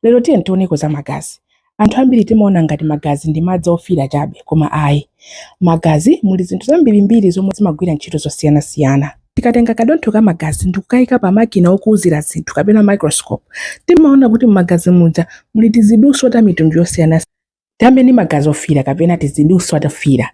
Lero tiyeni tioneko za magazi. Anthu ambiri timaona ngati magazi ndi madzi ofiira chabe koma ayi. M'magazi muli zinthu zambirimbiri zomwe zimagwira ntchito zosiyanasiyana. Tikatenga kadontho ka magazi ndi kukaika pa makina okuzira zinthu kapena microscope, timaona kuti m'magazi muja muli tiziduswa ta mitundu yosiyanasiyana. tiyambe ndi magazi ofiira kapena tiziduswa tofiira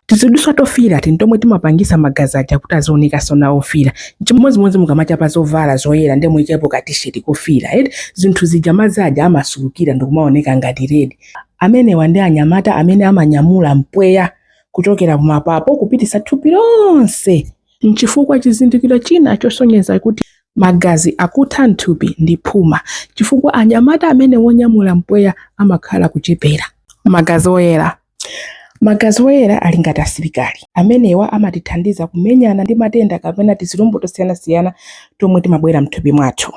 tiziduswa tofiira iti ndi tomwe timapangisa magazi aja kuti azionekaso nawo ofiira chimodzimodzi mukamachapa zovala zoyera ndi kuikapo ka tisheti kofiira eti zinthu zija madzi aja amasulukila ndikumaoneka ngati redi amenewa ndi anyamata amene amanyamula mpweya kuchokera kumapapo kupititsa thupi lonse Nchifukwa chake chizindikiro china chosonyeza kuti magazi akutha mthupi ndi phuma chifukwa anyamata amene wonyamula mpweya amakhala kuchepera. Magazi oyera Magazi oyera ali ngati asilikali. Amenewa amatithandiza kumenyana ndi matenda kapena tizilombo tosiyanasiyana tomwe timabwera mthupi mwathu.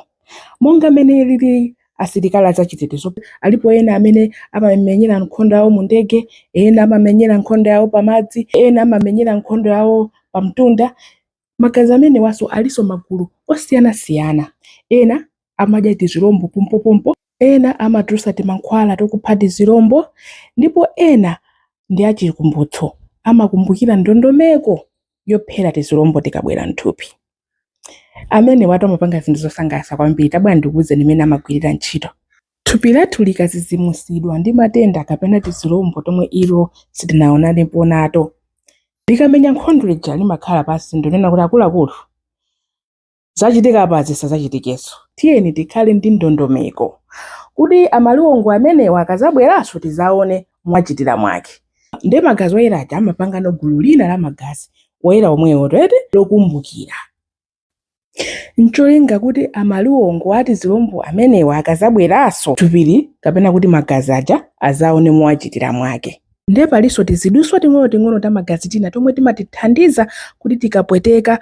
Monga mmene alili asilikali azachitetezo, alipo ena amene amamenyera nkhondo yawo mu ndege, ena amamenyera nkhondo yawo pamadzi, ena amamenyera nkhondo yawo pamtunda. Magazi amenewanso alinso magulu osiyanasiyana. Ena amadya tizilombo pompopompo, ena amatulutsa timankhwala tokupha tizilombo, ndipo ena ndi achikumbutso, amakumbukira ndondomeko yophera tizilombo tikabwera m'thupi. Amenewatu amapanga zinthu zosangalatsa kwambiri. Tabwera ndikuuzeni mmene amagwirira ntchito. Thupi lathu likadzidzimutsidwa ndi matenda kapena tizilombo tomwe ilo silinaonanepo nato, likamenya nkhondo lija limakhala pansi ndikunena kuti, Akuluakulu, zachitika apazi zisadzachitikenso. Tiyeni tikhale ndi ndondomeko kuti amaliwongo amenewa akadzabweranso tidzaone mwachitira mwake. Ndiye magazi oyera aja amapangano gulu lina la magazi oyera omwewo tiyeti lokumbukira ncholinga kuti amaliwongo a tizilombo amenewa akazabweranso thupili kapena kuti magazi aja azaone mowachitira mwake nde palinso tiziduswa ting'onoting'ono ta magazi tina tomwe timatithandiza kuti tikapweteka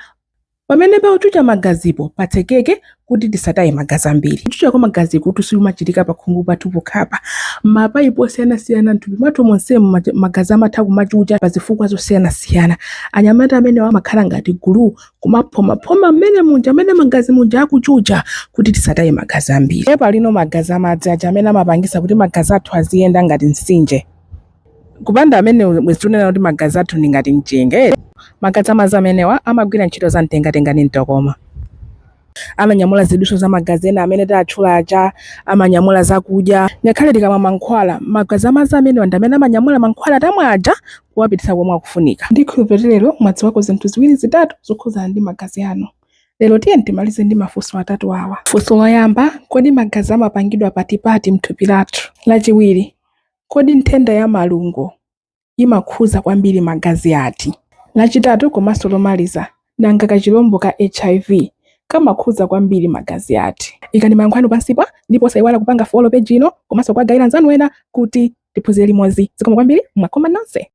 Pamene pakuchucha magazipo patsekeke kuti tisataye magazi ambiri. Kuchucha kwa magazikutu sikumachitika pakhungu pathu pokhapa. M'mapaipi osiyanasiyana m'thupi mwathu monsemu magazi amatha kumachucha pazifukwa zosiyanasiyana. Anyamata amenewa amakhala ngati guluu kumaphomaphoma mmenemuja mmene magazi muja akuchucha kuti tisataye magazi ambiri. Ndiye palinso magazi amadzi aja amene amapangisa kuti magazi athu aziyenda ngati mtsinje. Kupanda amenewo bwezi tikunena kuti magazi athu ndi ngati mchenga eti. Magazi a madzi amenewa amagwira ntchito za mtengatenga ndi mtokoma. Amanyamula zidutswa za magazi ena amene tatchula aja, amanyamula zakudya, ngakhale tikamwa mankhwala, magazi a madzi amenewa ndi amene amanyamula mankhwala tamwa aja kuwapititsa komwe akufunika. Ndikhulupirira kuti lero mwadziwako zinthu ziwiri zitatu zokhudzana ndi magazi anu. Lero tiyeni timalize ndi mafunso atatu awa. Funso loyamba, kodi magazi amapangidwa patipati m'thupi lathu? Lachiwiri, Kodi nthenda ya malungo imakhudza kwambiri magazi ati? Lachitatu komanso lomaliza, nanga kachilombo ka HIV kamakhudza kwambiri magazi ati? Ikani mayankho anu pansipa ndipo osayiwala kupanga follow page ino komanso kuwagaira anzanu ena kuti tiphunzire limodzi. Zikomo kwambiri, mwakhoma nonse.